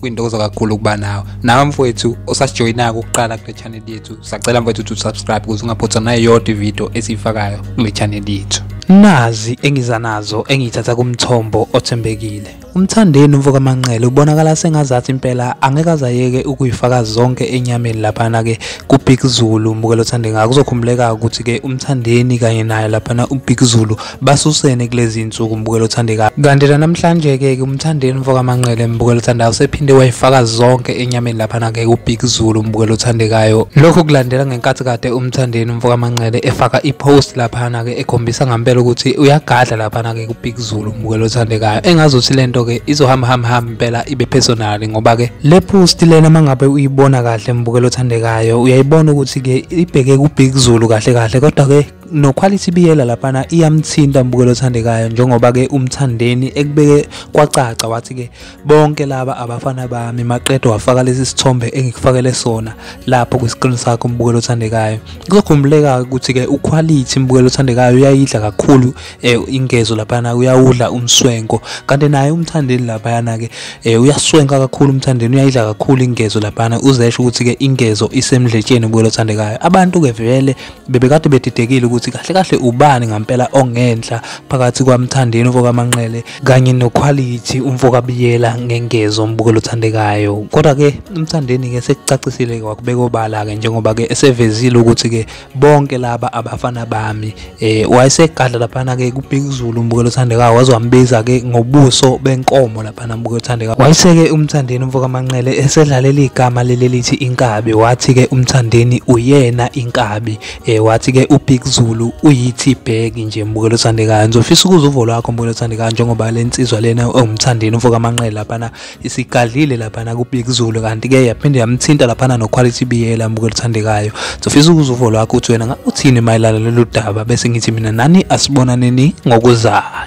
kwintokozo kakhulu ukuba nawe nawe mfowethu osasijoyinako ukuqala kule channel yethu sacela mfowethu ukuthi usubscribe ukuze ungaphothwa nayo yodwa ividiyo esiyifakayo kule channel yethu nazi engiza nazo engiyithatha kumthombo othembekile umthandeni umfokamanqele ubonakala sengazathi impela angeke azayeke ukuyifaka zonke enyameni laphana-ke kubig zulu mbukelo othande ngako kuzokhumbuleka ukuthi-ke umthandeni kanye naye laphana ubig zulu basusene kulezi nsuku mbukelo othandekayo kanti la namhlanje-ke ke umthandeni mfokamanqele mbukelo othandayo usephinde wayifaka zonke enyameni laphana-ke kubig zulu mbukelo othandekayo lokhu kulandela ngenkathi kade umthandeni mfokamanqele efaka ipost laphana-ke ekhombisa ngampela ukuthi uyagadla laphana-ke kubig zulu mbukelo othandekayo engazothi le nto-ke izohamba hamba hamba impela ibe personali ngoba-ke le post lena uma ngabe uyibona kahle mbukelo othandekayo uyayibona ukuthi-ke ibheke kubig zulu kahle kahle kodwa-ke noquality biyela laphana iyamthinta mbukelo othandekayo njengoba ke umthandeni ekubeke kwacaca wathi ke bonke laba abafana bami maqedo wafaka lesi sithombe engikufakele sona lapho kwisikrini sakho mbukelo othandekayo kuzokhumbuleka ukuthi ke uquality mbukelo othandekayo uyayidla kakhulu eh, ingezo laphana uyawudla umswenko kanti naye umthandeni laphana ke eh, uyaswenka kakhulu umthandeni uyayidla kakhulu ingezo laphana uzesho ukuthi ke ingezo isemdletsheni mbukelo othandekayo abantu ke vele bebekade bedidekile ukuthi kahle kahle ubani ngampela ongenhla phakathi kwamthandeni uvokamanqele kanye nokhwalithi umvokabiyela ngengezo umbukelo othandekayo kodwa-ke umthandeni-ke sekucacisile-ke wakubeka obala-ke njengoba-ke esevezile ukuthi-ke bonke laba abafana bami um wayesegadla laphana-ke kubhekuzulu umbukelo othandekayo waze wambiza-ke ngobuso benkomo lapha Banamuke uthande wayiseke umthandeni umfokamanqele esedlalela igama lelelithi inkabi wathi ke umthandeni uyena inkabi eh wathi ke ubig zulu uyithi bag nje mbukelo othandekayo ngizofisa ukuza uvo lwakho mbukelo othandekayo njengoba lensizwa lena ewumthandeni umfokamanqele laphana isigadlile laphana kubig zulu kanti ke yaphinde yamthinta laphana no quality biyela mbukelo othandekayo ngizofisa ukuza uvo lwakho uthi wena uthini mayelana lolu daba bese ngithi mina nani asibonaneni ngokuzayo